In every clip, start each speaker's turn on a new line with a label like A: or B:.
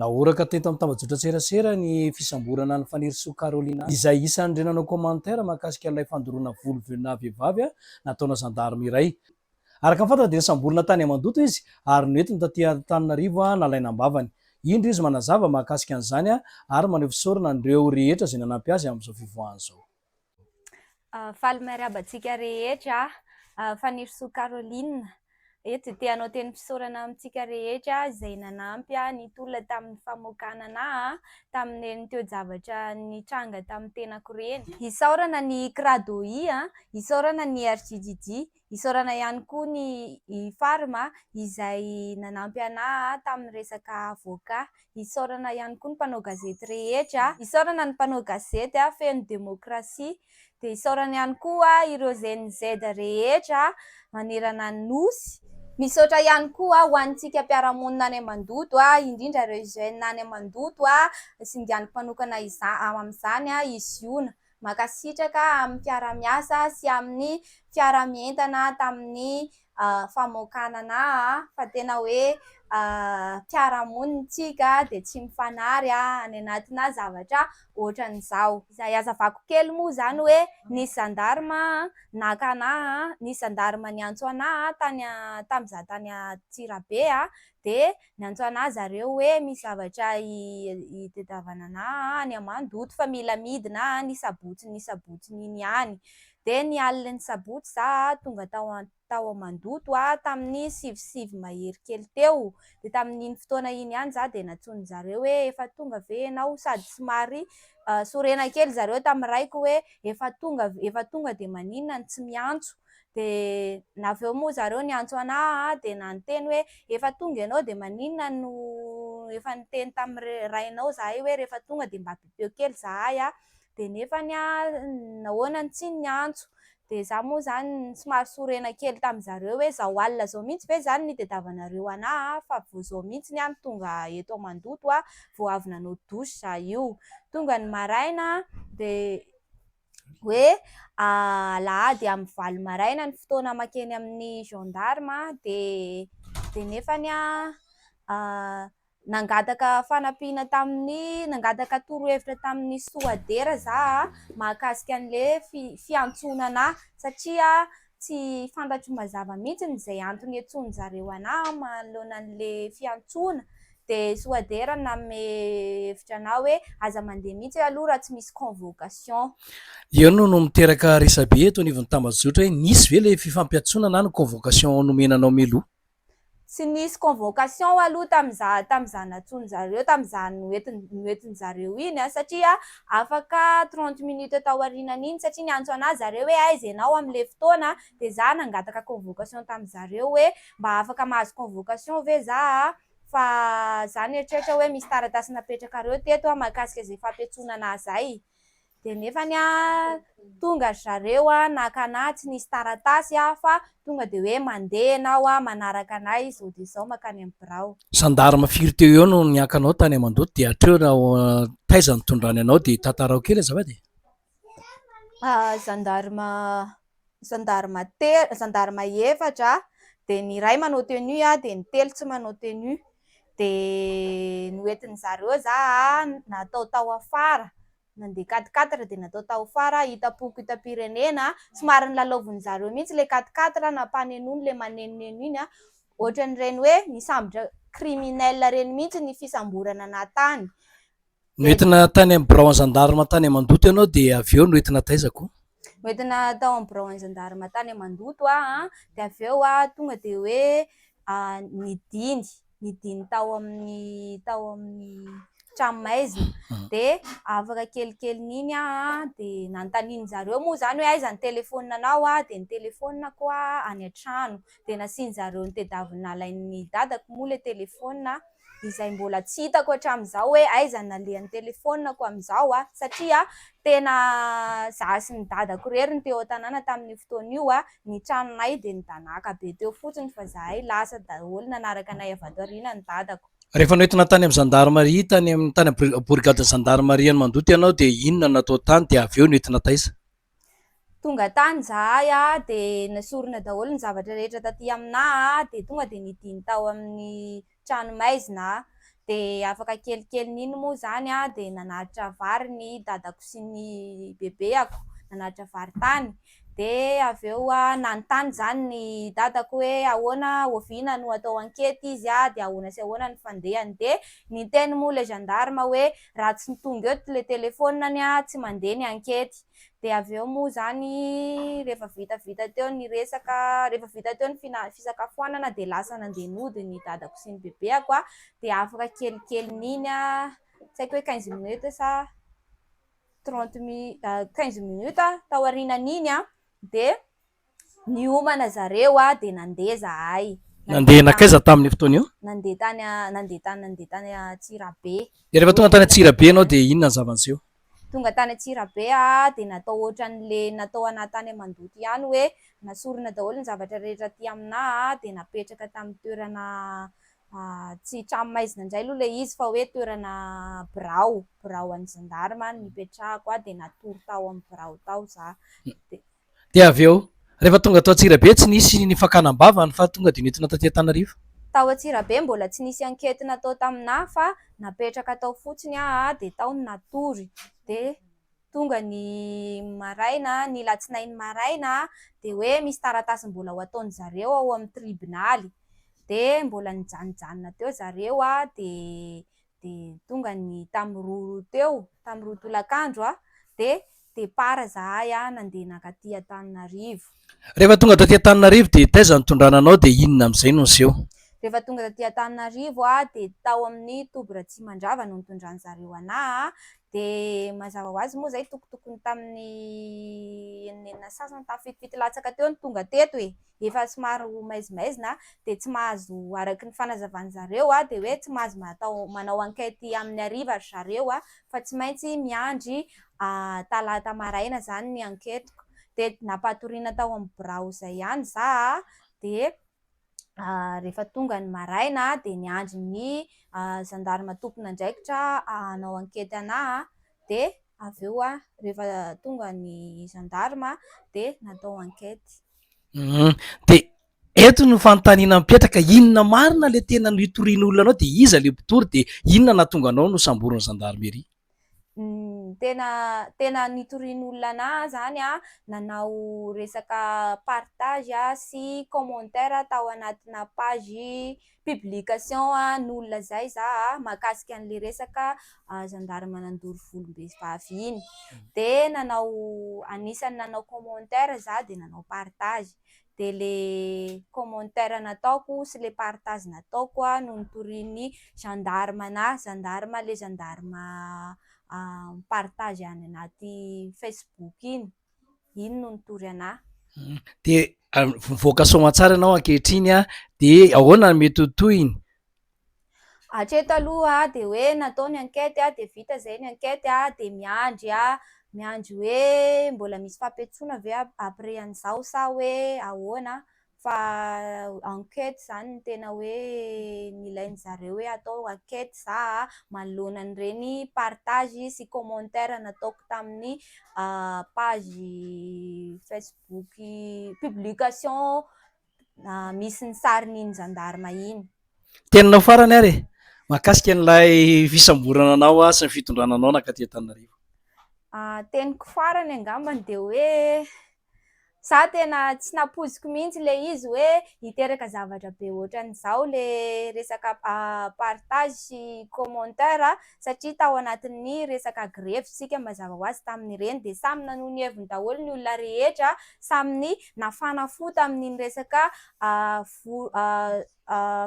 A: Nahoraka teto amin'ny tambajotran-tserasera ny fisamborana an'i Fanirisoa Carolina, izay isan'ireo nanao commentaire mahakasika an'ilay fandoroana voly venona vehivavy nataona zandarme iray. Araka ny fantatra dia nisamborina tany Ammandoto izy ary noentiny taty Antananarivo nalaina am-bavany. Indro izy manazava mahakasika an'izany ary maneho fisaorana an'ireo rehetra izay nanampy azy amin'izao fivoahany izao.
B: Faly miarahaba antsika rehetra aho, Fanirisoa Caroline. Eto dia te hanao tenim-pisaorana amintsika rehetra izay nanampy ahy nitolona tamin'ny famoakana anà tamin'ireny toe-javatra nitranga tamin'ny tenako ireny. Isaorana ny Cradohi, isaorana ny RJJJ, Isaorana ihany koa ny i Farm izay nanampy anah tamin'ny resaka avoka. Isaorana ihany koa ny mpanao gazety rehetra. Isaorana ny mpanao gazety feno demokrasia. Dia isaorana ihany koa ireo GNZ rehetra manerana ny Nosy. Misaotra ihany koa ho antsika mpiara-monina any Mandoto, indrindra ireo jeunes any Mandoto, singaniko manokana amin'izany i Ziona. Mankasitraka amin'ny mpiara-miasa sy amin'ny mpiara-mientana tamin'ny famoakana anà fa tena hoe mpiara-monina tsika dia tsy mifanary any anatinà zavatra ohatran'izao. Izay azavako kely moa izany hoe nisy zandarma naka anà, nisy zandarma niantso anà tany tamin'izaho tany Antsirabe dia niantsoana ahy zareo hoe misy zavatra itadiavana anah any Mandoto fa mila midina any ny sabotsiny sabotsiny iny ihany. Dia ny alin'ny sabotsy za tonga tao tao Mandoto tamin'ny sivy sivy mahery kely teo, dia tamin'iny fotoana iny ihany za dia nantsoiny zareo hoe efa tonga ve ianao sady somary sorena kely zareo tamin'ny raiko hoe efa tonga efa tonga dia maninona no tsy miantso. dia naveo moa zareo niantso anah aho dia nanoteny hoe efa tonga ianao dia maninona no efa niteny tamin'ny rainao zahay hoe rehefa tonga dia mba bipeo kely zahay an, dia nefany an nahoana no tsy niantso, dia za moa zany somary sorena kely tamin'ny zareo hoe zao alina zao mihintsy ve zany no nitadiavanareo anah an, fa vao zao mihintsy aho no tonga eto mandoto an, vao avy nanao douche za io, tonga ny maraina dia hoe alahady amin'ny valo maraina ny fotoana makeny amin'ny gendarme dia nefa nangataka fanampiana tamin'ny nangataka torohevitra tamin'ny soadera za mahakasika an'ilay fiantsonana ahy satria Tsy fantatro mazava mihitsy ny izay antony iantsoan-dry zareo anà manoloana an'ilay fiantsoana. Dia soa dera nanome hevitra anà hoe aza mandeha mihitsy aloha raha tsy misy convocation. Eo no
A: no miteraka resabe eto anivon'ny tambajotra hoe nisy ve ilay fifampiantsoana na ny convocation nomena anao mialoha? Tsy nisy
B: convocation aloha tamin'iza tamin'izany natsoin'izareo tamin'izany noentin- noentin'izareo iny an, satria afaka trente minutes tao aorianan'iny satria niantso anah izareo hoe aiza ianao amin'ilay fotoana dia za nangataka convocation tamin'izareo hoe mba afaka mahazo convocation ve za fa za nieritreritra hoe misy taratasy napetrakareo teto mahakasika izay fampiantsoana anah izay. dia nefany tonga ry zareo naka anah tsy nisy taratasy fa tonga dia hoe mandeha ianao manaraka anah izao dia izao mankany amin'ny birao. Zandarma firy teo
A: eo no nianka anao tany amandoto dia hatreo taiza no tondrany anao dia tantarao kely azafady e? Zandarma
B: zandary efatra dia ny iray manao tenue dia ny telo tsy manao tenue dia noentin-dry zareo za natao tao afara nandeha quatre quatre dia natao tao afara hitam-poko hitam-pirenena somary nilalaovin'ny zareo mihitsy ilay quatre quatre nampanenony ilay manenoneno iny ohatran'ireny hoe nisambotra criminel ireny mihitsy ny fisamborana nahatany Noentina
A: tany amin'ny birao an'ny zandarma tany Mandoto ianao dia avy eo noentina taiza koa? Noentina tao
B: amin'ny birao an'ny zandarma tany Mandoto aho dia avy eo aho tonga dia hoe nidiny, nidiny tao amin'ny tao amin'ny tranomaizina mhm. dia afaka kelikelin'iny aho dia nanontanian'ny zareo moa izany hoe aiza ny telefaonina anao aho dia ny telefaoninako aho any an-trano dia nasian'ny zareo ny tedaviny nalain'ny dadako moa ilay telefaonina izay mbola tsy hitako hatramin'izao hoe aiza ny nalehan'ny telefaoniko amin'izao aho satria tena izaho sy ny dadako irery no teo an-tanàna tamin'io fotoana io, ny tranonay dia nidanàka be teo fotsiny fa izahay lasa daholo nanaraka anay avy ato aoriana ny dadako. Rehefa noentina tany amin'ny
A: zandarimaria tany amin'ny tany amin'ny borigadin'ny zandarimaria any Mandoto ianao dia inona no natao tany dia avy eo noentina taiza? Tonga
B: tany izahay dia nesorina daholo ny zavatra rehetra taty aminay dia tonga dia nidina tao amin'ny trano maizina aho. Dia afaka kelikelin'iny moa izany dia nanaritra vary ny dadako sy ny bebeako, nanaritra vary tany. Dia avy eo nanontany izany ny dadako hoe ahoana, oviana no atao ankety izy dia ahoana sy ahoana ny fandehany. Dia niteny moa ilay gendarme hoe Raha tsy tonga eo le telefonany a tsy mandeha ny ankety de avy eo moa zany rehefa vita vita teo ny resaka rehefa vita teo ny fina- fisakafoanana de lasa nandeha nody ny dadako sy ny bebeako a de afaka kelikelin'iny a tsy haiko hoe quinze minutes sa trente mi- quinze minutes taorianan'iny a de Niomana zareo aho dia nandeha zahay. Nandeha nankaiza
A: tamin'io fotoana io? Nandeha tany a,
B: nandeha tany, nandeha tany Antsirabe. Dia rehefa tonga tany
A: Antsirabe ianao dia inona ny zava-niseho? Tonga tany
B: Antsirabe aho dia natao ohatran'le natao anah tany Mandoto ihany hoe nasorina daholo ny zavatra rehetra aty aminah a, dia napetraka tamin'ny toerana tsy tranomaizina indray aloha ilay izy fa hoe toerana birao, birao an'ny Gendarme nipetrahako aho dia natory tao amin'ny birao tao zah. Dia
A: avy eo, rehefa tonga tao Antsirabe, tsy nisy ny fakana am-bava ny fa tonga dia nentina taty Antanarivo. Tao Antsirabe
B: mbola tsy nisy enquete natao taminà fa napetraka tao fotsiny aho dia tao no natory. Dia tonga ny maraina, ny latsinainy maraina dia hoe misy taratasy mbola ho ataon-dry zareo ao amin'ny tribonaly. Dia mbola nijanijanona teo zareo dia dia tonga ny tamin'ny roa teo, tamin'ny roa tolakandro aho, dia départ izahay nandeha nankaty Antananarivo. Rehefa tonga taty
A: Antananarivo dia taiza no tondrana anao dia inona amin'izay no niseho? Rehefa tonga taty
B: Antananarivo aho dia tao amin'ny toby Ratsimandrava no nitondran'izareo anah. Dia mazava ho azy moa izay tokotokony tamin'ny enina enina sy sasany tamin'ny fitofiton'ny latsaka teo no tonga teto e! efa somary ho maizimaizina dia tsy mahazo araka ny fanazavan'ny zareo an, dia hoe tsy mahazo atao manao enquête amin'ny hariva ry zareo an, fa tsy maintsy miandry talata maraina izany ny enquête-ko, dia nampatoriana tao amin'ny birao izay ihany za an, dia rehefa tonga ny maraina dia niandry ny zandarima tompon'andraikitra hanao ankety ana dia avy eo aho rehefa tonga ny zandarima dia natao ankety. Hum.
A: Dia eto ny fanontaniana mipetraka, inona marina ilay tena no hitorian'ny olona anao dia iza ilay mpitory dia inona nahatonga anao nosamborin'ny zandarmeria? Tena
B: tena nitorian'olona anah zany an, nanao resaka partage sy commentaire tao anatina page publication n'olona zay za mahakasika an'ilay resaka zandary manandoro volom-behivavy iny, dia nanao anisan'ny nanao commentaire za dia nanao partage. dia ilay commentaire nataoko sy ilay partage nataoko an, no notorian'ny gendarme anà, gendarme ilay gendarme mi-partage any anaty facebook iny, iny no nitory anà. Dia
A: mivoaka soamantsara ianao ankehitriny an, dia ahoana no mety ho tohiny?
B: Hatreto aloha dia hoe natao ny enquête dia vita izay ny enquête dia miandry miandry hoe mbola misy fampiantsoana ve après an'izao sa hoe ahoana fa enquête izany no tena hoe nilain'ny zareo hoe atao enquête za manoloana an'ireny partage sy commentaire nataoko tamin'ny page facebook publication misy ny sarin'iny zandarma iny. Teninao farany
A: ary e! Mahakasika an'ilay fisamborana anao sy ny fitondrana anao nankaty Antananarivo.
B: Teniko farany angambany dia hoe za tena tsy nampoiziko mihitsy ilay izy hoe hiteraka zavatra be ohatran'izao ilay resaka partage sy commentaire satria tao anatin'ny resaka grevy isika mazava ho azy tamin'ireny dia samy nanao ny heviny daholo ny olona rehetra samy Nafana fo tamin'iny resaka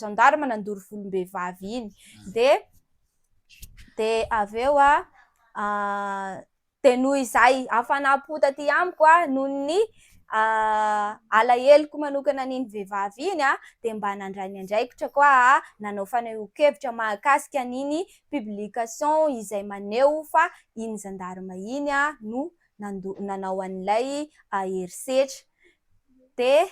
B: gendarme nandoro volom-behivavy iny dia dia avy eo dia noho izay hafanam-po taty amiko noho ny alaheloko manokana an'iny vehivavy iny dia mba nandray ny andraikitra ko aho nanao fanehoan-kevitra mahakasika an'iny publication izay maneho fa iny gendarme iny no nandoa nanao an'ilay herisetra dia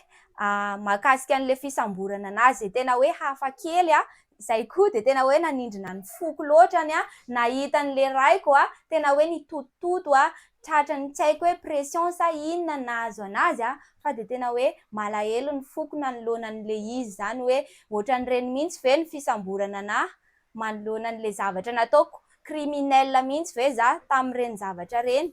B: mahakasika an'ilay fisamborana an'azy dia tena hoe hafa kely aho, izay koa dia tena hoe nanindrona ny foko loatra ny ahy nahita an'ilay raiko aho tena hoe nitotototo aho tratran'ny tsy haiko hoe pression sa inona no nahazo an'azy aho fa dia tena hoe malahelo ny foko nanoloana an'ilay izy izany hoe ohatran'ireny mihitsy ve ny fisamborana an'ahy manoloana an'ilay zavatra nataoko, criminel mihitsy ve za tamin'ireny zavatra ireny?